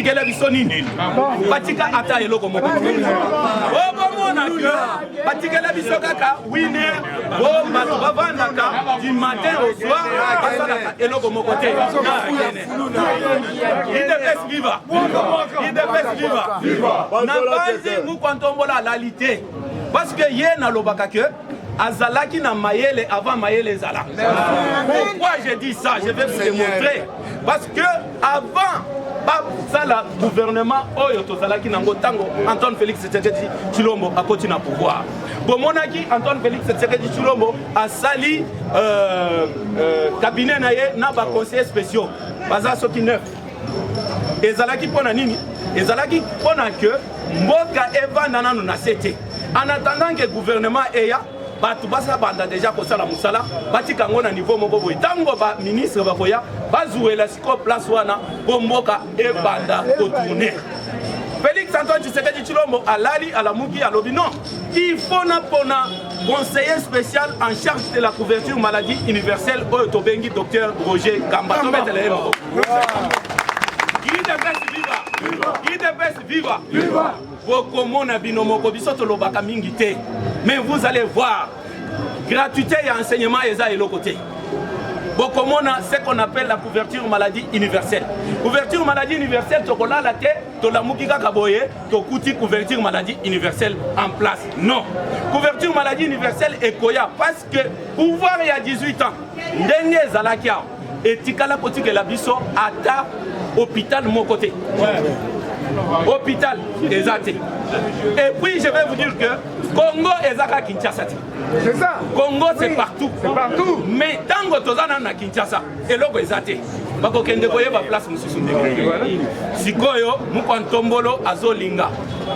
tikela biso nini batika ata eloko moko obomona oh, ke batikela biso kaka wine bo bato bavandaka du matin au soir basalaka eloko moko te idps viva idps viva na banzi ngukwa ntombola alali te parce que ye nalobaka ke azalaki na mayele avant mayele ezala pourquoi je dis ça je vais vous démontrer parce que avant basala gouvernement oyo tozalaki nango ntango antoine félix tshisekedi tshilombo akoti na pouvoir bomonaki antoine félix tshisekedi tshilombo asali euh, euh, cabinet na ye na baconseiller spéciaux baza soki neuf ezalaki mpo na nini ezalaki mpo na ke mboka evanda nano na se te en attendant ke gouvernement eya bato basa banda deja kosala mosala batika yango na niveau moko boye ntango baministre bakoya bazuwela sikoyo place wana mpo mboka ebanda kotourne félix antoine tshisekedi tshilombo alali alamuki alobi non il faut napona conseiller spécial en charge de la couverture maladie universelle oyo tobengi docteur roger kamba tobetela ye moko idps viva idps viva bokomona bino moko biso tolobaka mingi te mais vous allez voir gratuité ya enseignement eza eloko te bokomona ce qu'on appelle la couverture maladie universelle couverture maladie universelle tokolala te tolamuki kaka boye tokuti couverture maladie universelle en place non couverture maladie universelle ekoya parce que pouvoir ya 18 ans ndenge ezalaki awa etikala kotikela biso ata hôpital moko te hôpital eza te et puis je vais vous dire que congo eza kaka kinshasa te congo c'est oui. partout. partout mais ntango toza nano na kinshasa eloko eza te bakokende koyeba place mosusu ndenge sikoyo mokwa ntombolo azolinga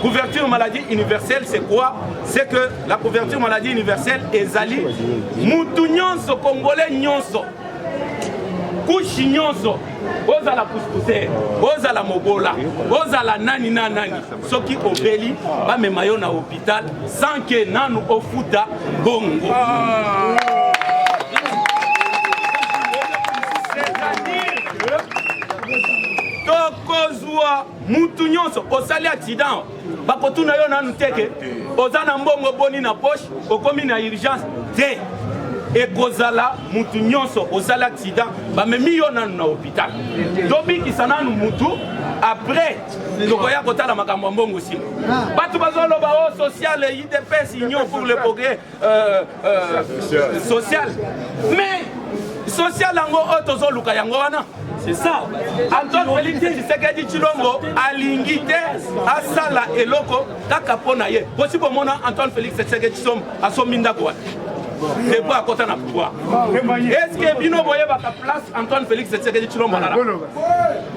couverture maladie universelle c'est quoi c'est que La couverture maladie universelle ezali mutu nyonso congolais nyonso kushi nyonso ozala puspuse ozala mobola ozala nani na nani soki obeli bamema yo na hopital sans ke nanu ofuta bongo tokozwa mutu nyonso osali accident bakotuna yo nanu te ke oza na mbongo boni na poche okomi na urgence te ekozala mutu nyonso osali accident bamemi yo nanu na hôpital tobikisa nanu mutu après tokoya kotala makambo ya mbongo nsima bato bazoloba o oh, sociale idps union pour le progrès euh, euh, social mais social yango oyo tozoluka yango wana c'est ça antoine félix tshisekedi tshilombo alingi te asala eloko kaka mpo na ye bosi bomona antoine félix tshisekedi tshilombo asombi ndako wana depo akota na pouvoir estce bino boyebaka place antoine félix tshisekedi tshilombo alala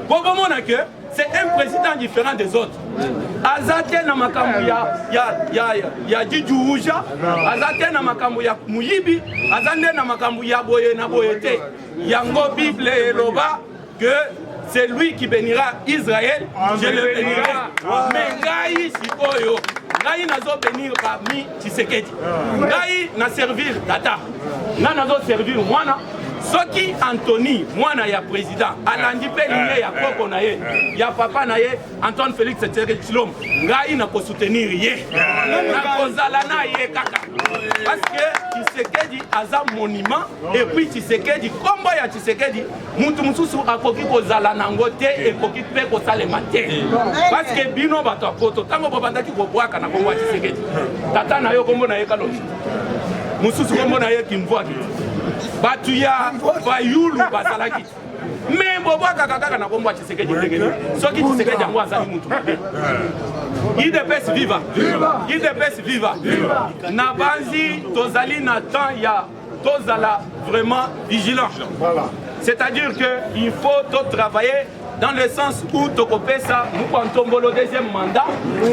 po bomona ke c'est un président différent des autres aza te na makambo ya, ya, ya, ya, ya dijuuja aza te na makambo ya moyibi aza nde na makambo ya boye na boye te yango bible eloba que c'est lui qui bénira israël je le bénirai me ngai sikoyo ngai nazo bénir parmi tshisekedi ngai na servir tata ngai nazo servir mwana soki antony mwana ya président alandi mpe linie ya koko na ye ya papa na ye antoine félix tshisekedi tshilombo ngai nakosoutenir ye nakozala na ye kaka parce que tshisekedi aza monument et puis tshisekedi nkombo ya tshisekedi moto mosusu akoki kozala nango te ekoki mpe kosalema te parceke bino bato ya poto ntango bobandaki kobwaka na kongo ya tisekedi tata na yo kombo na ye kalobi mosusu kombo na ye kimvwaki bato ya bayulu bazalaki me bobwakaka kaka na kombo ya tisekedi ndenge nini soki tisekedi yango azali motu mabe idps viva idps viva nabanzi tozali na temps ya tozala vraiment vigilant voilà. c'est à dire que il faut to travailler dans le sens où tokopesa mokwa ntombolo deuxième mandat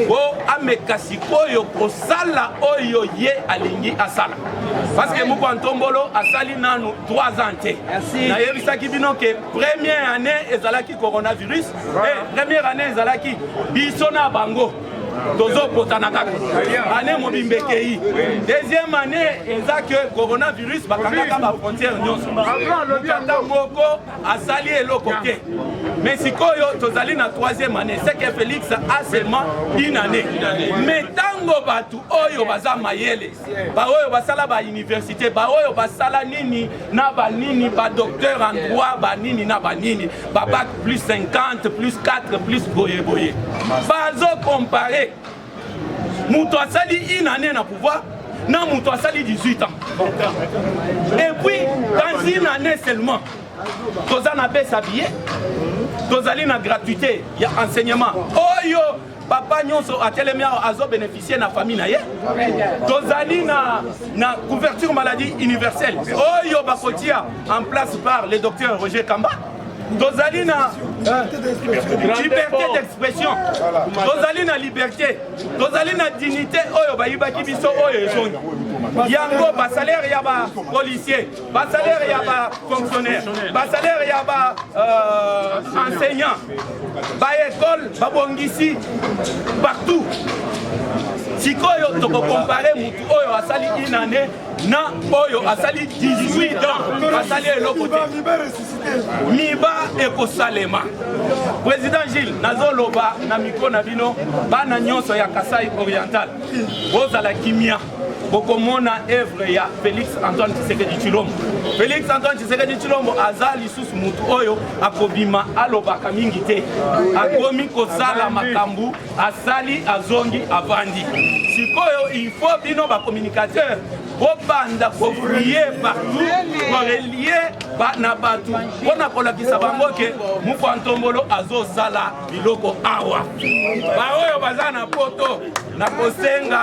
po ameka sikoyo kosala oyo ye alingi asala parce que mokwa ntombolo asali nanu 3 ans te nayebisaki bino ke première année ezalaki coronavirus e première année ezalaki biso na bango tozopotana kaka ane mobimba ekei deuxième année eza ke coronavirus bakangaka bafrontière nyonso mokanda moko asali eloko te mais sikoyo tozali na troisième année seke félix a seulement une année mais ntango bato oyo baza mayele baoyo basala bauniversité baoyo basala nini na banini badocteur en droit banini na banini babac plus 50 plus 4 plus boye boye bazokompare moto asali une année na pouvoir na moto asali 18 ans et puis dans une année seulement toza na besa billet tozali na gratuité ya enseignement oyo papa nyonso atelemi awa azo bénéficier na famille na ye tozali na, na couverture maladie universelle oyo bakotia en place par le docteur roger kamba tozali na euh, liberté d'expression tozali na liberté tozali na dignité oyo bayibaki biso oyo ezongi yango basalere ya bapolicier ba salaire ya ba fonctionnaire ba salaire ya ba euh, enseignant ba école babongisi partout sikoyo tokokompare motu oyo asali une année na oyo asali 18 ans asali eloko te miba ekosalema président gilles nazoloba na mikro na bino bana nyonso ya kasai oriental bozala kimia bokomona evre ya félix antoine tshisekedi tshilombo félix antoine tshisekedi tshilombo aza lisusu motu oyo akobima alobaka mingi te akomi kosala makambo asali azongi avandi sikoyo il faut bino bacommunicateur bobanda kofrie partout korelie na bato mpo na kolakisa bango ke mokwa ntombolo azosala biloko awa baoyo baza na poto nakosenga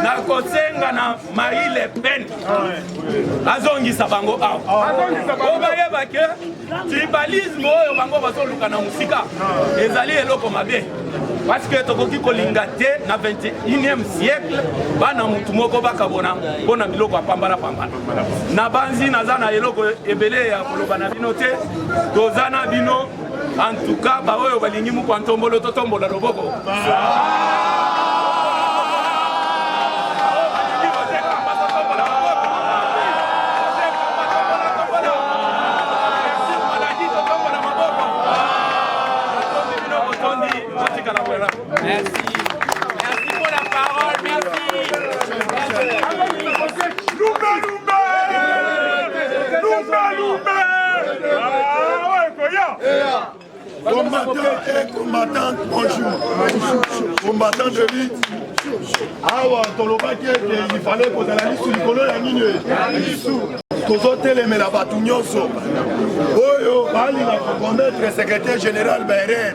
nakosenga na marie le pen azongisa bango awa po bayeba ke tribalisme oyo bango bazoluka na mosika ezali eloko mabe parce que tokoki kolinga te na 21e siècle bana motu moko bakabona mpo na biloko ya pambala pambala nabanzi naza na eloko ebele ya koloba na bino te toza na bino antuka baoyo balingi mokwa ntombolo totombola loboko Combattant et combattante, bonjour. Combattant de lutte. awa tolobaki ete ifale kozala lisu likolo ya nini lisu tozotelemela bato nyonso oyo balinga kokometre secrétaire général bairer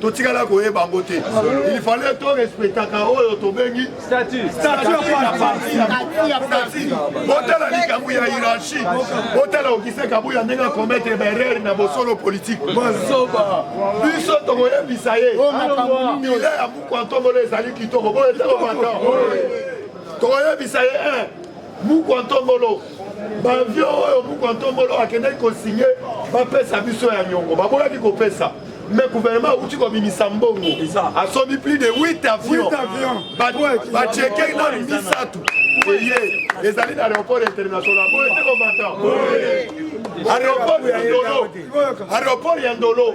totikala koyeba yango te il fallait to respectaka oyo tobengi botala likambo ya hiérarchie botala okise kabuya ndenge akometre baerreur na bosolo politike biso tokoyebisa ye ile ya buku antombola ezali kitoko boye te kobata tokoyebisa ye mukwa ntombolo bavio oyo mukwa ntombolo akendaki kosigne bapesa biso ya nyongo baboyaki kopesa mais gouvernement auti kobimisa mbongo asomi plus de 8 avions bacheke nanu misato eye ezali na aéroport international boye te komata aéroport ya ndolo aéroport ya ndolo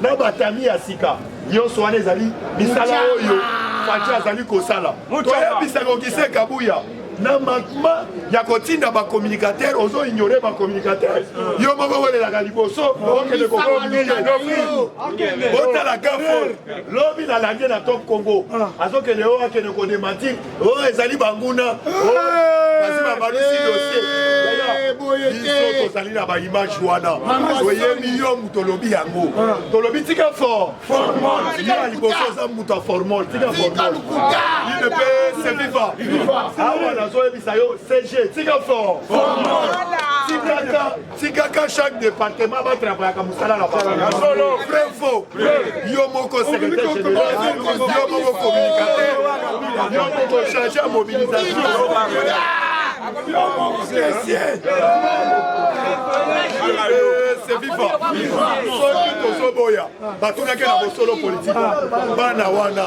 na batami ya sika nyonso wana ezali misala oyo faci azali kosala toyebisa kokise kabuya na manquement ya kotinda bacommunicateur ozo ignore bacommunicateur yo moko welelaka liboso okende kokomiye otala gafo lobi na lande na top congo azokende oyo akende kodemantir oyo oh, ezali banguna oh, basi babalusi dosie biso tozali na baimage wana oyebi yo moto olobi yango ah. tolobi tika for yo ya liboso oza moto ya formol tika formol idp seviva awa nazoyebisa yo cg tika for tikaka tikaka chaque département batravaillaka mosala na bango vrai faux yo moko secrétaire général yo moko communicateur yo moko chargé ya mobilisation yo moko caissier c'est vivant soki tozoboya batunaki na bosolo politike bana wana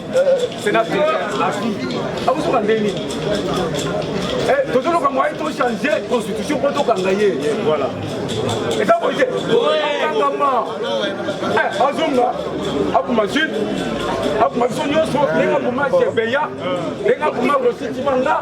Sénateur Afi, akosuka ah, ndenge nini eh, tozoloka moye tochange constitution mpo tokanga ye voilà eza boye te okangama eh, azonga akoma jude akoma biso nyonso ndenge akoma chebeya ndenge akoma rositi manga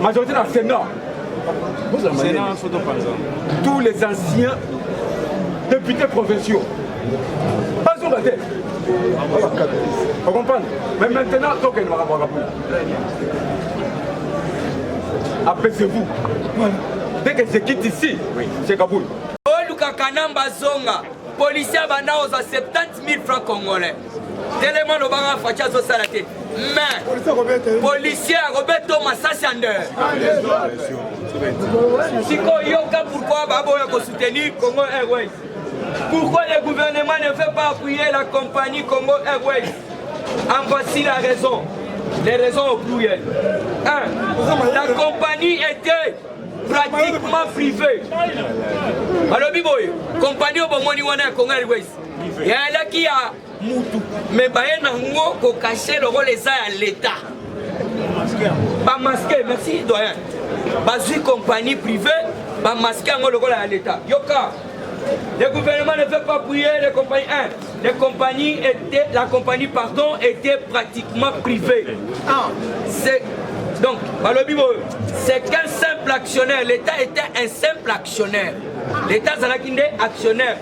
majorité na sénat tous les anciens députés provinciaux bazonga te ocomprendre mais maintenant tokende makambo akapo apaisez-vous dès que se quitte ici c'est kaboul oluka kanamba zonga policier abanda kozwa 70 000 francs congolais telema lobanga faci azosala te mais policier akobeta masasi ya nde sikoyo yoka pourkoi baboya kosoutenir congo airways pourquoi le gouvernement ne veut pas appuyer la compagnie congo airways en voici la raison les raisons au pluriel un la compagnie était pratiquement privée balobi boye compagnie oyo bomoni wana ya congo airways yalaki ya mutu me baye nango kokashe lokola eza ya leta bamaske merci doyen bazwi compagnie privé bamaske yango lokola ya leta yoka le gouvernement ne veut pas prier les compagnies 1 les compagnies étaient la compagnie pardon était pratiquement privée ah. c'est donc balobi boyo c'est qu'un simple actionnaire l'état était un simple actionnaire l'état azalaki nde actionnaire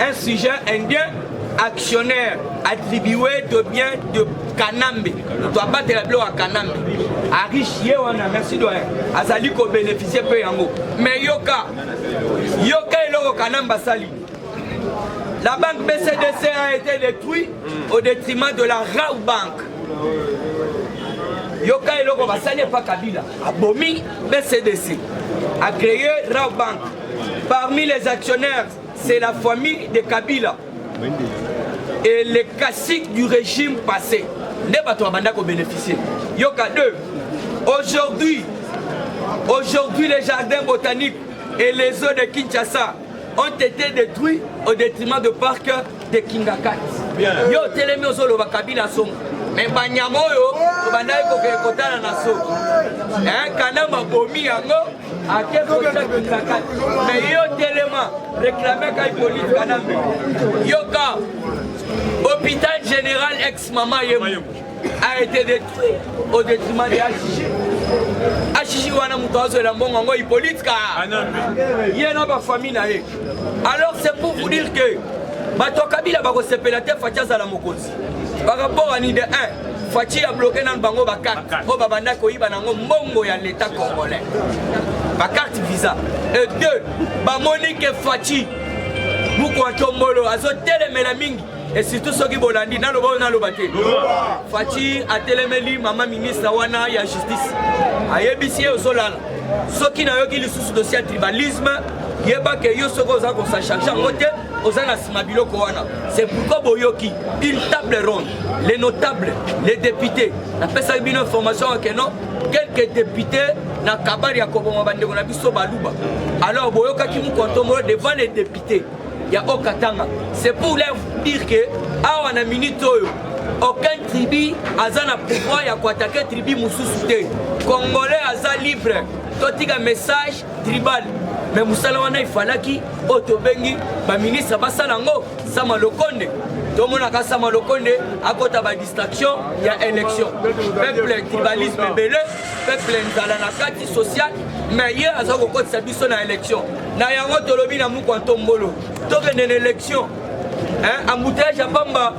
Un sujet indien actionnaire attribué de bien de kanambe moto abatela biloko ya kanambe ariche ye wana merci doyen azali kobénéficie mpe yango mais yoka yoka eloko kanambe asali la banque bcdc a été détruit au détriment de la rau banque yoka eloko basali epa kabila abomi bcdc a créé rau banque parmi les actionnaires C'est la famille de Kabila et les classiques du régime passé. Nde bato babanda ko bénéficier. Yoka 2. Aujourd'hui, aujourd'hui les jardins botaniques et les eaux de Kinshasa ont été détruits au détriment de parc de Kingakat. Yo telemi ozoloba Kabila songo. Mais banyama oyo obandaki kokotana na so. Hein, kanama bomi yango ake kotia kipakati me yo telema reklame kai polise kanambe yoka hôpital général ex mama ye a été détruit au détriment de HG. HG wana moto azwela mbongo yango Hippolyte ka ye na bafamille na ye alors c'est pour vous dire que bato ya kabila bakosepela te fati azala mokonzi par rapport à nide 1 faci ya bloke nanu bango bakarte oyo babanda koyiba nango mbongo ya leta congolais bakarte visa et deux bamoni ke faci mukwa tombolo azotelemela mingi et surtout soki bolandi naloba oyo naloba te faci atelemeli mama ministre wana ya justice ayebisi ye ozolala soki nayoki lisusu dossier ya tribalisme yeba ke yo soki oza kosacharge yango te oza na nsima biloko wana c'est pourquoi boyoki une table ronde les notables les députés napesaki bino information yake non quelques députés na kabari ya koboma bandeko na biso baluba alors boyokaki mokontomolo devant les députés ya okatanga c'est pour leur dire que awa na minute oyo aucun tribu aza na pouvoir ya koatake tribu mosusu te congolais aza libre totika message tribal me mosala wana efalaki oyo tobengi baministre basala yango sama lokonde tomonaka sama lokonde akota badistraction ya élection peuple tribalisme ebele peuple nzala na kati social me ye aza kokotisa biso na élection na yango tolobi na mukwa ntombolo tokende na élection embouteillage ya pamba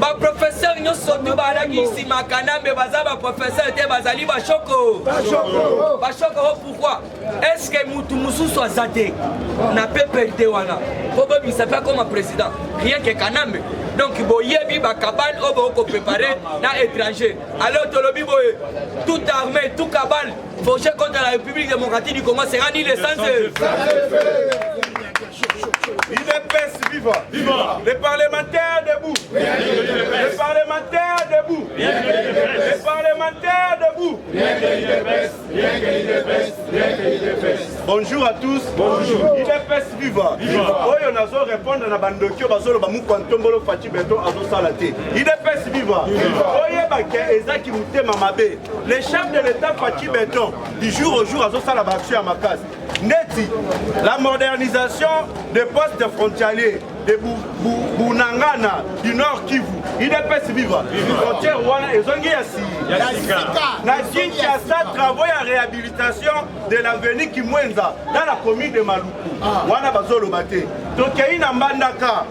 baprofesere nyonso tu balaki nsima kanambe baza baprofesere te bazali bashoko bashoko o oh, pourkui estce motu mosusu aza te na pprd wana mpo bobimisa mpe akoma président rien ke kanambe donc boyebi bakabale oyo bokoki koprépare na étranger alors tolobi boye tout armée tout kabale forge contre la république démocratique du congo sera ni le sens L'UDPS viva. viva Les parlementaires debout Les parlementaires debout Les parlementaires debout Bonjour à tous. Bonjour. UDPS viva. Viva. Oyo nazo répondre na bandokio bazolo ba mukwa ntombolo Fatshi Beton azo sala te. UDPS viva. Oyeba ke eza ki mutema mabe. Les chefs de l'État Fatshi Beton du jour au jour azo sala ba action ya makasi. ndeti la modernisation de poste de frontalier de bunangana du nord kivu idps viva frontière wana ezongi ya sika na kinshasa travaux ya réhabilitation de l'avenue kimwenza na la commune de maluku ah. wana bazoloba te tokei na mbandaka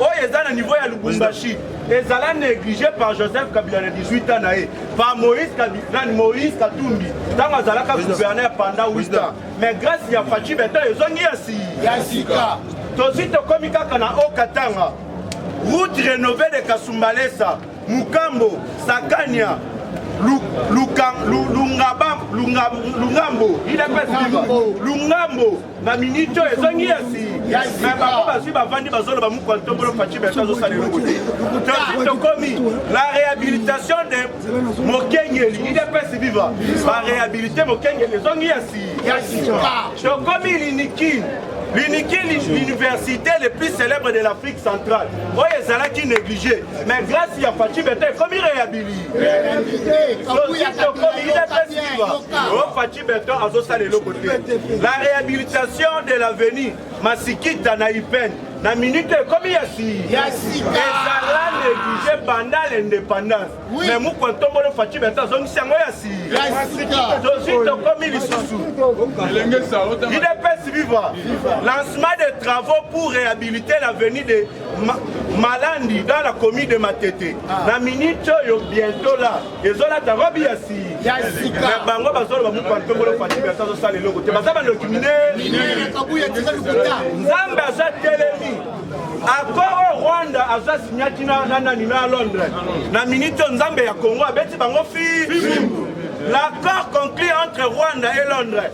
oyo eza na niveau ya lubumbashi ezala négligé par joseph kabila na 18 ans na ye par moïse kabinani moïse katumbi ntango azalaka gouverneur pendant 8 ans mais grâce ya faci beton ezongi ya sika tozwi tokomi kaka na o katanga route rénové de kasumbalesa mukambo sakania lungambo lungambo na minute oyo ezongi yasi me bango bazwi bavandi bazoloba mokwa ntombolo faci beto azosala eloko te tosi tokomi la réhabilitation de mokengeli idps viva baréhabilite mokengeli ezongi yasi tokomi linikini liniki l'université le plus célèbre de l'afrique centrale oyo ezalaki négligé mais grâce ya faci beto ekomi réhabilite tosi tokomi idps viva Beton azosala eloko te. La rehabilitation de l'avenue Masikita na Ipen na minute ekomi ya ezala neglige banda l'indépendance mais mukwa ntombolo faci beton azongisi yango ya tozwi tokomi lisusu idps viva lancement des travaux pour réhabiliter l'avenue de malandi dans la commune de matete na minute oyo bientôt là ezolata robi ya sika bango bazoloba mokwankongolo fatimi ata azosala eloko te baza bandoki minenzambe aza telemi accord oyo rwanda aza signaki na nani na londres na miniti oyo nzambe ya congo abeti bango fi l'accord conclu entre rwanda et londres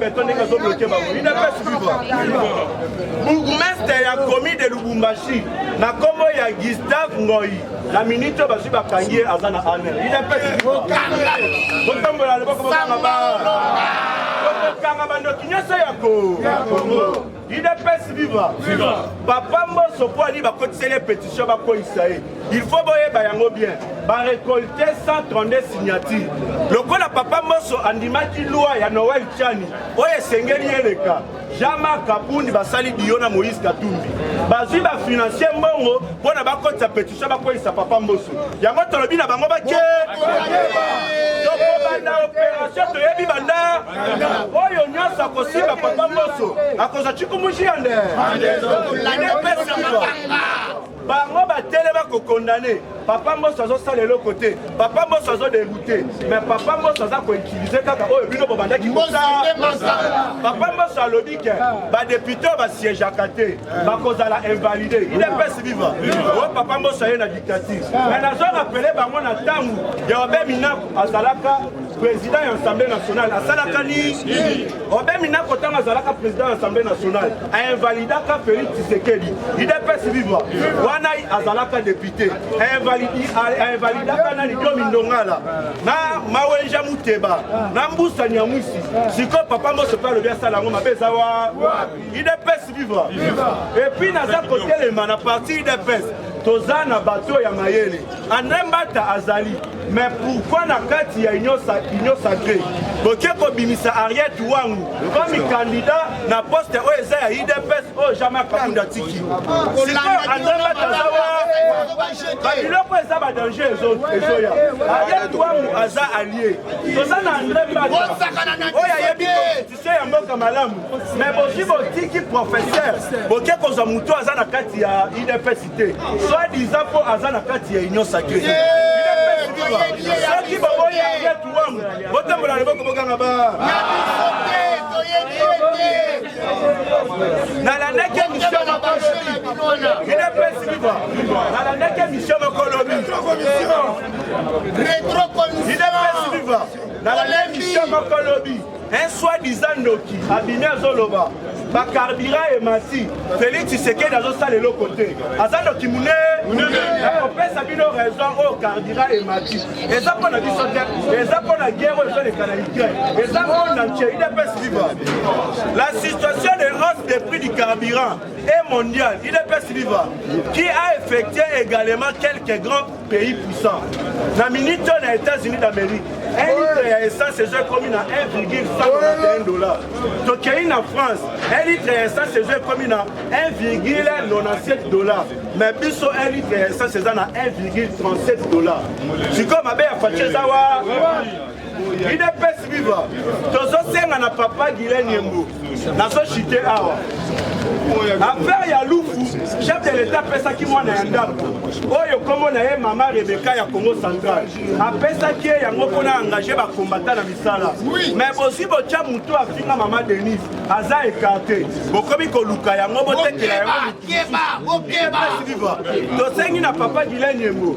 beton ndenge azo bloke bango udps viva bourgmestre ya komi de lubumbashi na nkombo ya gustave ngoi na minute oyo bazwi bakangi ye aza na aner udps botambola loboko bokanga ba bokokanga bandoki nyonso ya kongo udps viva papa mboso mpo ali bakotiseli ye pétition bakweyisa ye il faut boyeba yango bien barekolte 132 signature lokola papa mboso andimaki lwa ya noel chani oyo esengeli eleka jama kabundi basali biyo na moïse katumbi bazwi bafinancier mbongo mpo na bakotisa pétition bakweyisa papa mboso yango tolobi na bango bake tokobanda opération toyebi banda oyo nyonso akosimba papa moso akozwa cikumushi ya nde epesa mabanga bango batelema kokondane papa mboso azosala eloko te papa mboso azodegoute mais papa mboso aza koutilize kaka oyo bino bobandaki kosala papa mboso alobi ke badepute oyo basiégeaka te bakozala invalide idps viva oyo papa mboso aye na dictature mais nazorapele bango na ntango ya obe minaku azalaka President ya Assemblée nationale asalaka nini? Obe Minako ntango azalaka president ya Assemblée nationale ainvalidaka Felix Tshisekedi idps viva wana azalaka depute ainvalidaka nani Diomi Ndongala na Mawenja Muteba na Mbusa Nyamwisi sikoyo papa Mboso mpe alobi asala yango mabe eza wa idps viva epuis naza kotelema na parti idps toza na bato ya mayele andre mbata azali mais pourquoi na kati ya union sacré boke kobimisa ariete wangu komi kandida na poste oyo eza ya idps oyo jamai kakunda tiki sikoyo andre mbata aza babiloko eza badanger ezoya ariete wangu aza alie toza na andre mbata oyo ayebi te ya mboka malamu me boki botiki professeur boke kozwa moto aza na kati ya udps te soit disa mpo aza na kati ya union sacré soki boboyi arlet wangu botambola loboko bokanga ba nalandaki emisio moko lobi udps viva nalandaki emisio moko lobi retro commission udps viva nalandaki emisio moko lobi un soi-disant ndoki abimi azoloba bakarbira emati felix tshisekedi azosala eloko te aza ndoki munene akopesa bino raison oyo karbira emati eza mpo na biso te eza mpo na guerre oyo ezoleka na ukraine eza monde entier udps viva la situation de hausse des prix du carburant est mondiale udps viva qui a effectué également quelques grands pays puissant na minute oyo na états-unis d'amérique un litre ya essence ezo ekomi na 1,191 dollar tokei na france un litre ya essence ezo ekomi na 1,97 dollar mais biso un litre ya essence eza na 1,37 dollar sikoyo mabe ya faci eza wa idps viva tozosenga na papa gilen yembo nazochite awa affaire ya lufu chef de l'état apesaki mwana ya ndako oyo nkombo na ye mama rebeka ya congo central apesaki ye yango mpona engage bakombata na misala mais bozwi botya motu afinga mama denise aza ekarte bokomi koluka yango botekela yango tosengi na papa gilen yembo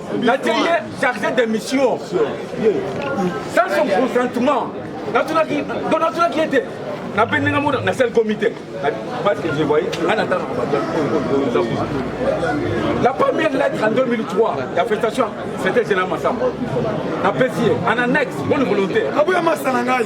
natie ye chargé de mission sans son consentement natunaki do natunaki ye te nape ndenge mona na sel comité parce que je voyais nga natanaka bato la première lettre en 2003 ya festation c'était général masamba napesi ye en annexe bonne volonté aboya masa na ngai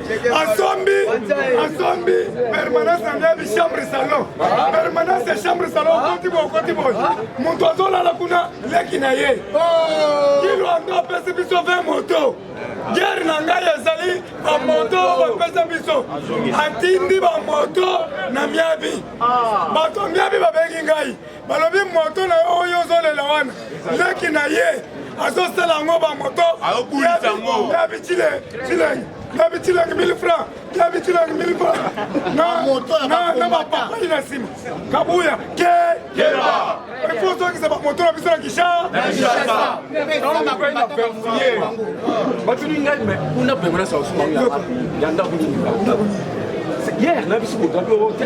asombi asombi permanence na ndebi chambre salon permanence ya chambre salon okoti boye okoti boye moto azolala kuna leki na ye oh. kilo yango apesi biso 20 moto guerre na ngai ezali bamoto oyo bapesa biso atindi bamoto na miabi ah. bato ya miabi babengi ngai balobi moto na yo oyo ozolela wana leki na ye azosala yango bamoto yabicile cilenge yabicilenge 1000 franc yabicilenge 1000 franc na bapapali na nsima kabuya ke ifo ozongisa bamoto na biso na kisha batuni ngai me kuna bembo na sausumaoya ndako nini hier na biso bogabi oyo te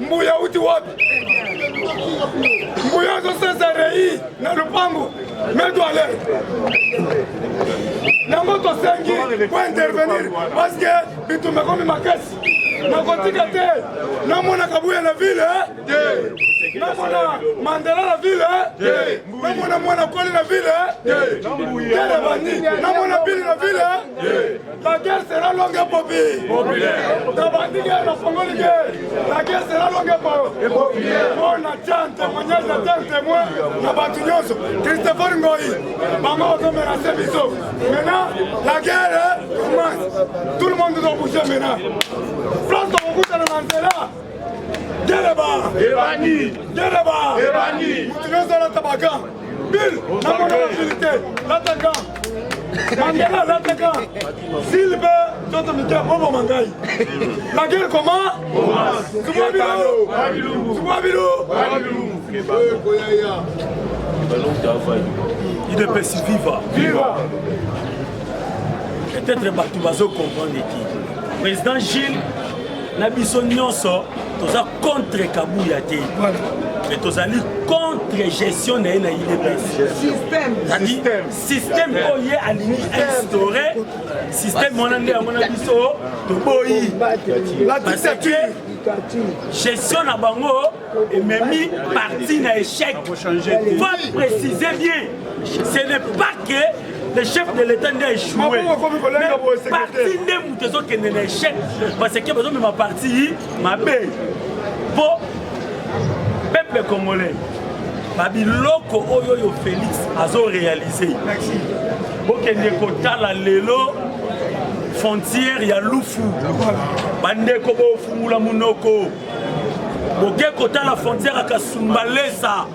Mbuya uti wapi? Mbuya azosesa rei na lupangu medwale yango tosengi po intervenir parce que bitumba ekomi makasi nakotika te namona kabuya na ville eh? namona mandela na ville eh? namona mwana koli na ville eh? namona bili na ville La guerre sera longue et populaire. Tabandiga na fongoli guerre. La guerre sera longue et populaire. Mon attend témoignage attend témoin na batu nyonso. Christopher Ngoyi. Bango bazo menacer biso. Maintenant la guerre commence. Tout le monde doit bouger maintenant. France tokokutana na nzela. Geleba. Ebani. Geleba. Ebani. Mutu nyonso alata bakan. Bill, namona na verite, lataka Mandela lataka Silbe toto mikia bobo mangai La guerre comment Tuma bilu Tuma bilu idepesi viva viva peut-être bato bazo comprendre ete président gilles na biso nyonso toza contre kabuya te mais tozali contre gestion na ye na idpssystème oyo ye alingi instaure système wana nde yango na biso toboyi gestion na bango ememi parti na échec faut préciser bien ce n'est pas que le chef de l'état nde aechoueparti nde moto ezokende na échec parce que bazomema parti mabe mpo peuple congolais babiloko oyo oyo félix azorealize bokende kotala lelo frontière ya lufu bandeko bofungula monoko boke kotala frontière ya kasumbalesa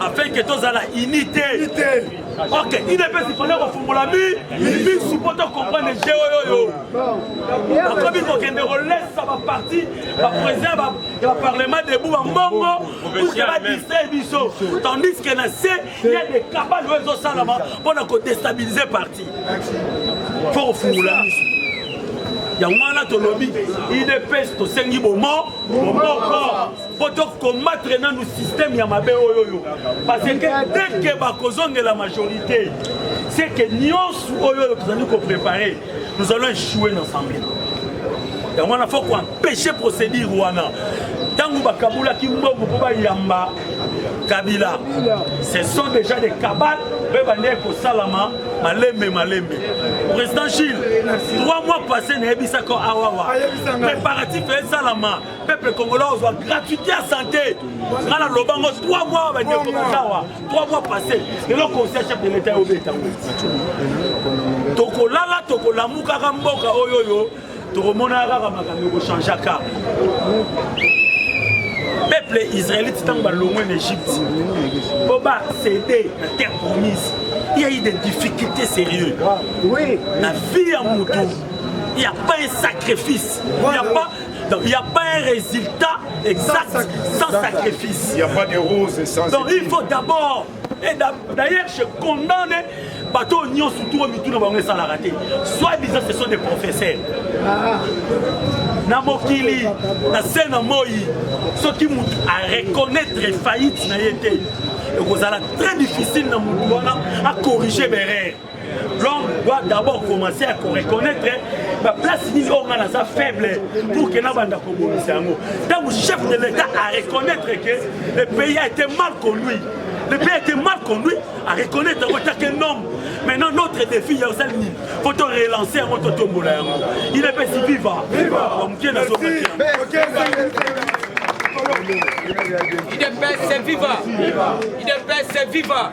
afin que tozala unité ok idps ifale kofungola misu mpo tocomprendre je oyoyo bakomi kokende kolesa baparti baprésident ya baparlement debout bambongo puke badistrai biso tandis que na se ya de kabale oyo ezosalama mpo na kodestabilize parti fo kofungola misu yango wana tolobi idps tosengi bomo bomoko mpo tokombatre nanu systeme ya mabe oyo oyo parce que teke bakozongela majorité seke nyonso oyo oyo tozali koprépare nous allons échouer na assemblée yango wana fo koempêche procédure wana ntango bakabulaki mbongo mpo bayamba kabila ce sont déjà des cabales mpe bandeki kosalama malembe malembe président gilles trois mois passé nayebisaka awawa préparatif esalama peuple congolais ozwa gratuité ya santé nga na loba ngo 3 mois bandeko bazawa 3 mois passé lelo conseil chef de l'état obeta ngo tokolala tokolamukaka mboka oyo oyo tokomonaka kaka makambo ekochangeaka peuple israélite ntango balongwe na egypte mpo basede na terre promise il y a eu des difficultés sérieux na vie ya motu il n'y a pas un sacrifice il n'y a pas Donc il n'y a pas un résultat exact sans, sans sacrifice. Il n'y a pas de rose sans Donc il faut d'abord et d'ailleurs je condamne bato oyo nyonso tuo mituna bango esalaka te soit disant ce sont des professeurs ah. na mokili na se na moi soki moto areconnaitre faillite na ye te ekozala très difficile na motu wana akorige berere l'homme doit d'abord commencer à reconnaître baplace nini oyo ngai naza faible pour ke nabanda kobongisa yango ntango chef de l'état a reconnaître que le pays a été mal conduit le pays a été mal conduit a reconnaître yango etake nom maintenant notre défi ya osali nini po to relancer yango totombola yango il epesi viva moke nazokaki Il est best, c'est viva. Il est best, c'est viva.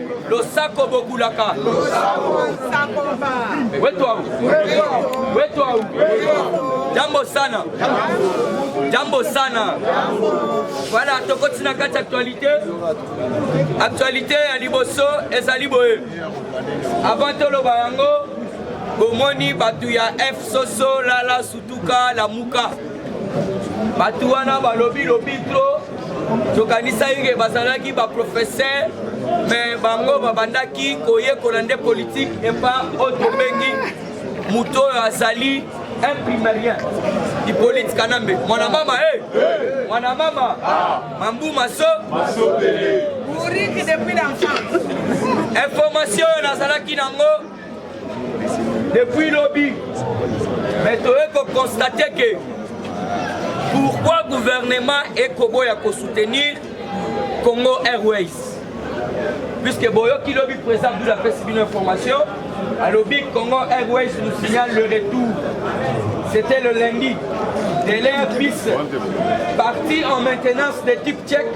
losako bokulaka wetu au wetu au jambo sana jambo sana voilà tokoti na kati actualité actualité ya liboso ezali boye avant toloba yango bomoni bato ya f soso lala sutuka lamuka bato wana balobi lobi tro tokanisaki ke bazalaki baprofesseur me bango babandaki koyekola nde politike epa oyo tobengi moto oyo azali imprimerien ipolite kanambe mwana mama e eh! hey! mwana mama ah! mambu maso information oyo nazalaki nango depuis lobi mais toye kokonstate ke pourquoi gouvernement ekoboya kosoutenir congo airways puisque boyoki lobi président abdul apesi bino information alobi congo airways nous signale le retour c'était le lundi de l'air bis parti en maintenance de type tchèque